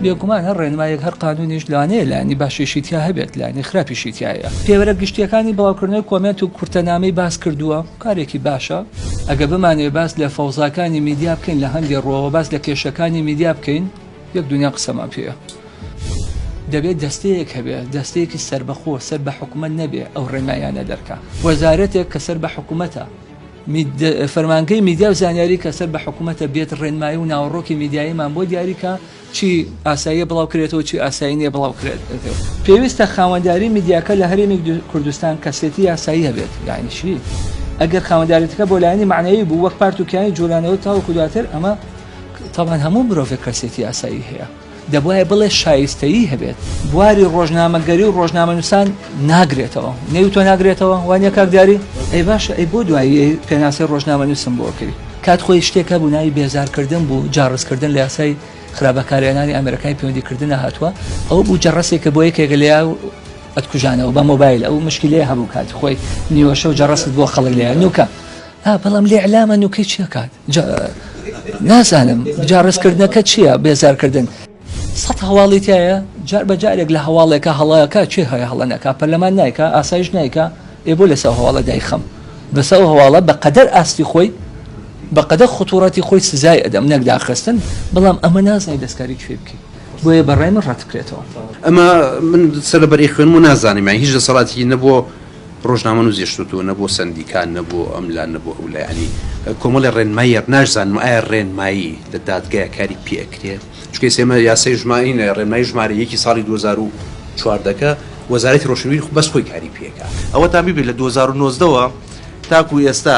بێگومان هەر ڕێنمایەک هەر قانونیش لانەیە لانی باشیشی تیا هەبێت لانی خراپیشی تایە پێوەرە گشتیەکانی بڵاوکردنەوەی کۆمێنت و کورتەنامەی باس کردووە کارێکی باشە ئەگە بمانێ باس لە فەوزاکانی میدیا بکەین لە هەندێ ڕۆوە باس لە کێشەکانی میدیا بکەین یەک دونیا قسەمان پێیە. دەبێت دەستەیەک هەبێ دەستەیەکی سەربەخۆ سەر بە حکومەت نەبێ ئەو ڕێنمایانە دەرکا وەزارەتێک کە سەر بە حکومەتە فەرمانگەی میدیا و زانیاری کە سەر بە حکوومەتە بێت ڕێنمایی و ناوەڕۆکی میدیاییمان بۆ دیاریکە چی ئاساییە بڵاو کرێتەوە چی ئاسایی نیە بڵاو کرێت پێویستە خاوەنداری میدیاکە لە هەرێمی کوردستان کەسێتی یاسایی هەبێت یعنی چی ئەگەر خاوەندارێتەکە بۆ لایەنی معنەوی بوو وەک پارت و کیانی جوولانەوە تاوەکو دواتر ئەمە تابان هەموو مرۆڤێک کەسێتی ئاسایی هەیە، دەبوایە بڵێ شایستەیی هەبێت. بواری ڕۆژنامەگەری و ڕۆژنامەنووسان ناگرێتەوە. نێوی تۆ ناگرێتەوە، وا نییە کاک دیاری؟ ئەی باشە ئەی بۆ دوایی پێناسەی ڕۆژنامەنووسم بۆ ئەکەی؟ کات خۆی شتێک هەبوو ناوی بێزارکردن بوو، جاڕزکردن لە یاسای خراپ بەکارهێنانی ئامێرەکانی پەیوەندیکردنا هاتووە، ئەوە بوو جەڕەسێک کە بۆ یەکێک لێیا ئەتکوژانەوە بە مۆبایل، ئەو مشکیلەیە هەبوو کات خۆی نیوەشەو جەڕەست بۆ خەڵک لێیا نووکە، ها بەڵام لێعلامە نووکەی چی ئەکات؟ نازانم جا ڕستکردنەکە چییە بێزارکردن سەد هەواڵی تایە جار بە جارێک لە هەواڵێکە هەڵەکە چێ هەیە هەڵەنەکە پەرلەمان نایکە ئاسایش نایکە ئێ بۆ لەسەر هەواڵە دایخەم بەسە ئەو هەواڵە بە قەدەر ئاستی خۆی بەقەدە خطوڕەتی خۆی سزای ئەدەم نەکداخستن بەڵام ئەمە نازای دەستکاری کوێ بکەیت بۆیە بەڕای من ڕەتکرێتەوە ئەمە من سەرەبەری خوێنم و نازانم هیچ لە سەڵاتی نەبووە ڕۆژنامەنووزی شتوتو نە بۆ سەندیکا نە بۆ ئەم لا نە بۆ ئەو لا یانی کۆمەڵێ ڕێنماییەر ناشزانم ئایا ڕێنمایی لە دادگەیە کاری پێ ئەکرێ چونکە ئێستا ئێمە یاسای ژمارینە ڕێنمایی ژمارە یەکی ساڵی دوو هەزار و چواردە کە وەزارەتی ڕۆشنبیری خۆ بەس خۆی کاری پێ ئەکا ئەوەتان بیبێ لە دوو هەزار و نۆزدە وە تاکوو ئێستا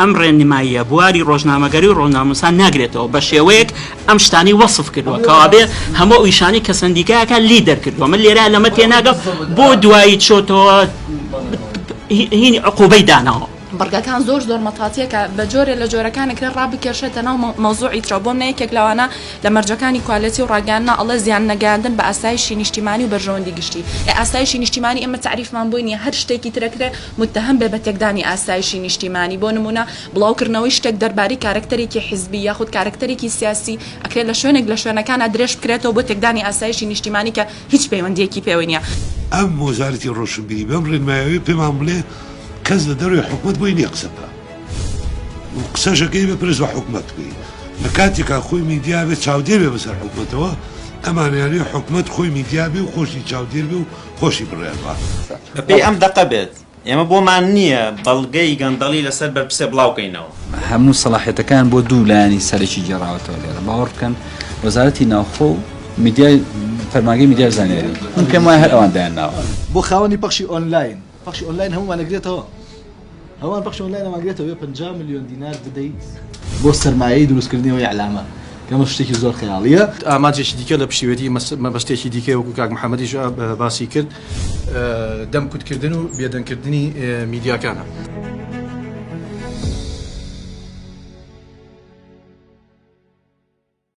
ئەم ڕێنماییە بواری ڕۆژنامەگەری و ڕۆژنامەنووسان ناگرێتەوە بە شێوەیەک ئەم شتانەی وەسف کردووە کەوابێ هەموو ئەو ئیشانەی کە سەندیکایەکە لێی دەرکردووە من لێرە لەمە تێناگەم بۆ دوایی چۆتەوە هینی عقوبەی داناوە بڕگەکان زۆر زۆر مەتاتیەکە بە جۆرێ لە جۆرەکانەکرێ ڕابکێشێتە ناو مەوزوعی ترەوە بۆم نەیەکێک لەوانە لە مەرجەکانی کوالەتی و ڕاگەاننا ئەڵە زیان نەگەاندن بە ئاسایشی نیشتیمانی و بەرژەوەندی گشتی ئاسایشی نیشتیمانی ئمە تعریفمان بۆی نیە هەر شتێکی ترەکرێ متهم بێ بە تێکدانی ئاسایشی نیشتیمانی، بۆ نموونە بڵاوکردنەوەی شتێک دەربارەی کارەکتەرێکی حیزبی یاخود کارەکتەرێکی سیاسی، ئەکرێت لە شوێنێک لە شوێنەکانا درێژبکرێتەوە بۆ تێکدانی ئاسایشی نیشتیمانی کە هیچ پەیوەندییەکی پێوەی نییە. ئەم وەزارەتی ڕۆشنبیری بەم ڕێنمایەوەی پێمان بڵێ کەس لە دەرەوەی حکومەت بۆی نییە قسە بکا و قسەشەکەی بپرس بە حکومەت بی لە کاتێکا خۆی میدیا بێ چاودێر بێ بەسەر حکومەتەوە، ئەمانەیانەوێ حکومەت خۆی میدیا بێ و خۆشی چاودێر بێ و خۆشی بڕیار باتەوە. بەپێی ئەم دەقە بێت، ئێمە بۆمان نییە بەڵگەی گەندەڵی لەسەر بەرپرسێ بڵاوکەینەوە. هەموو سەڵاحیەتەکان بۆ دوو لایەنی سەرەکی گێڕاوەتەوە لێرە، باوەڕ بکەن وەزارەتی ناوخۆ و میدیای فەرمانگەی میدیا و زانیاری، من پێم وایە هەر ئەوان دایانناوە. بۆ خاوەنی پەخشی ئۆنلاین، پەخشی ئۆنلاین هەموومان ئەگرێتەوە. هەمان پەخش ئۆنلاین ئەمانگرێتەوە پەنجا ملیۆن دینار بدەیت بۆ سەرمایەی دروستکردنی ئەو ئیعلامە کە ئەمەش شتێکی زۆر خەیاڵییە. ئامانجێکی دیکە لە پشتیوێتی مەبەستێکی دیکەی وەکو کاک محەمەدیش باسی کرد، دەم کوتکردن و بێدەنگکردنی میدیاکانە.